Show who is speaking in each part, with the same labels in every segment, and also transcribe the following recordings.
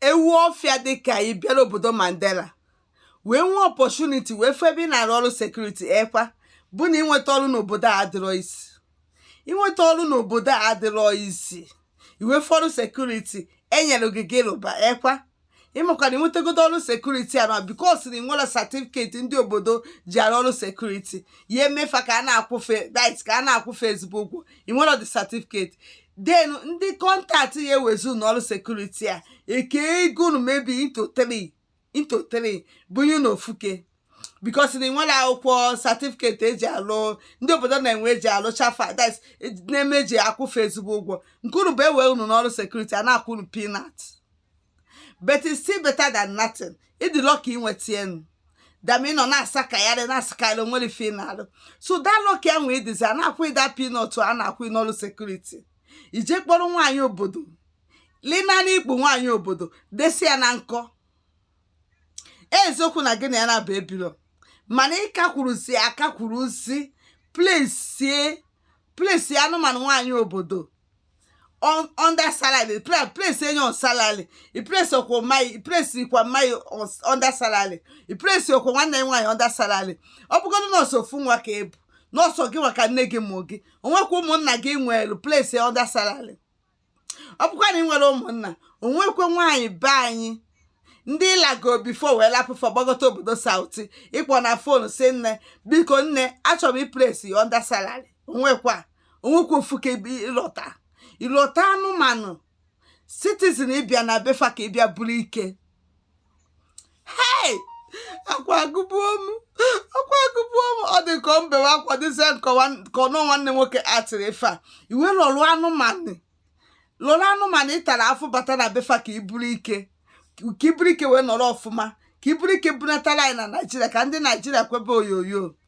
Speaker 1: ewu ọfịa dịka ị bịara obodo Mandela wee nwee opportunity wee fụ ebe ị na-arụ ọrụ security ekwa bụ na ịnweta ọrụ n'obodo a adịrọ easy ịnweta ọrụ n'obodo a adịrọ easy i wee fụ ọrụ security e nyere gị gị rụba ekwa ị makwa na i nwetagodo ọrụ security a na because na i nwerọ certificate ndị obodo ji arụ ọrụ security ya eme fa ka a na-akwụ fa dit ka a na-akwụ fa ezigbo ụgwọ i nwerọ the certificate then ndị contact ya ewezi n'ọrụ security a ekee ego unu maybe into three into three bunye na ofuke because na i nwerọ akwụkwọ certificate e ji alụ ndị obodo na-enwe e ji alụcha ife a that na-eme e ji akwụ fa ezigbo ụgwọ nke unu bụ e wee unu n'ọrụ security a na-akwụ unu peanut but it's still better than nothing ị dị lucky i nweta enu dam ị nọ na-asakagharị na-asakagharị o nwerọ ife ị na-alụ so that lucky ahụ ị dịzi a na-akwụ ị that peanut a na-akwụ n'ọrụ security i je kpọrọ nwaanyị obodo lina n'ikpu nwaanyị obodo desi ya na nkọ eziokwu na gị na ya naabọ ebirọ mana ị ka kwuruzi aka kwuruzi place place anụmanụ nwaanyị obodo on under salary place place enye on salary i place okwo mai i place ikwa mai on under salary i place okwo nwanne nwaanyị under salary ọ bụgodu na ọ sọ ofu nwa ka ị bụ na ọ sọ gị nwa ka nne gị mụ gị o nwekwa ụmụnna gị nwere place under salary ọ bụkwa na ị nwere ụmụnna o nwekwa nwaanyị be anyị ndị ị lago before wee lapụ fa gbagota obodo South ị kpọ na phone sị nne biko nne achọrọ m i place under salary o nwekwa o nwekwa ofuke ị lọta ị lọta anụmanụ citizen ị bịa na be fa ka ị bịa buru ike hei akwa agụbuo m akwa agụbuo m ọ dị ka ọ mbewe akwa dịzie ka ọnụ nwanne nwoke atịrị ife a i wee lọrụ anụmanụ lọrụ anụmanụ ị tara afụ bata na be fa ka i buru ike ka i buru ike wee nọrọ ọfụma ka i buru ike bunatara anyị na naijiria ka ndị naijiria kwebe oyoyo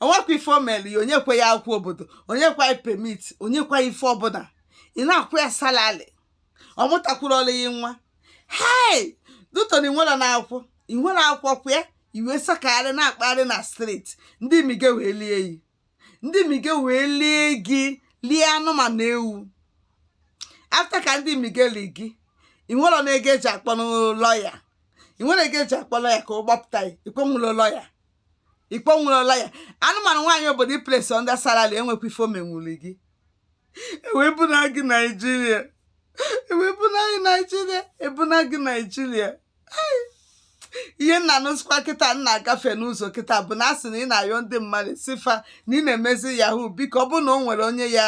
Speaker 1: o nwekwa ife o mere ya o nyekwa ya akwụkwọ obodo o nyekwa ya permit o nyekwa ife ọbụla ị na-akwụ ya salary ọ mụtakwuru ọrụ ya nwa hei due to na i nwerọ akwụkwọ i nwerọ akwụkwọ kwa ya i wee sakagharị na-akpagharị na street ndị mige wee lie yi ndị mige wee lie gị lie anụmanụ ewu after ka ndị mige li gị ị nwere na ego e ji akpọ lawyer ị nwere ego e ji akpọ lawyer ka ọ gbapụta ya ikwenwulo lawyer ikpo nwụrụla ya anụmanụ nwaanyị obodo i place under salary enwekwa ife o menwuli gị ewebuna gị naijiria ewebuna gị naijiria ebuna gị naijiria ihe m na-anụzikwa kịta m na-agafe n'ụzọ kịta bụ na asị na ị na-ayọ ndị mmadụ sị fa na ị na-emezi yahoo biko ọ bụ na o nwere onye ya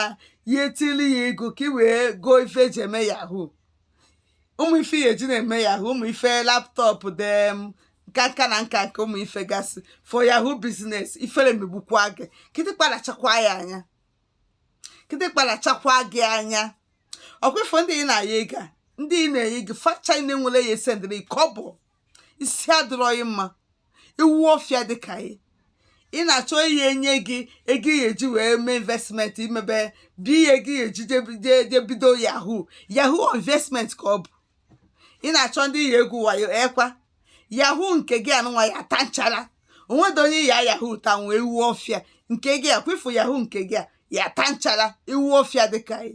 Speaker 1: ya etili ya ego ka ị wee goo ife eji eme yahoo ụmụ ife ya eji na-eme yahoo ụmụ ife laptop dem nka nka na nka nke ụmụ ife gasị for yahoo business ifere megbukwa gị kịtịkpa lachakwa ya anya kịtịkpa lachakwa gị anya ọkwa ị fụ ndị ị na-ayọ ego ndị na-enye gị fa ncha enwere ya esendịrị kọbọ isi adịrọ gị mma ewu ọfịa dị ka gị ị na-achọ ihe enye gị ego ị ya-eji wee mee investment i mebe bụ ihe gị eji je bido yahoo yahoo investment ka ọ bụ ị na-achọ ndị ị ya-egwu wayo ekwa yahoo nke gị anụnwa ya-ata nchara o nwedọ onye ya yahoo tanwu ewu ọfịa nke gị a kwa ị fụ yahoo nke gị a ya-ata nchara ewu ọfịa dịka gị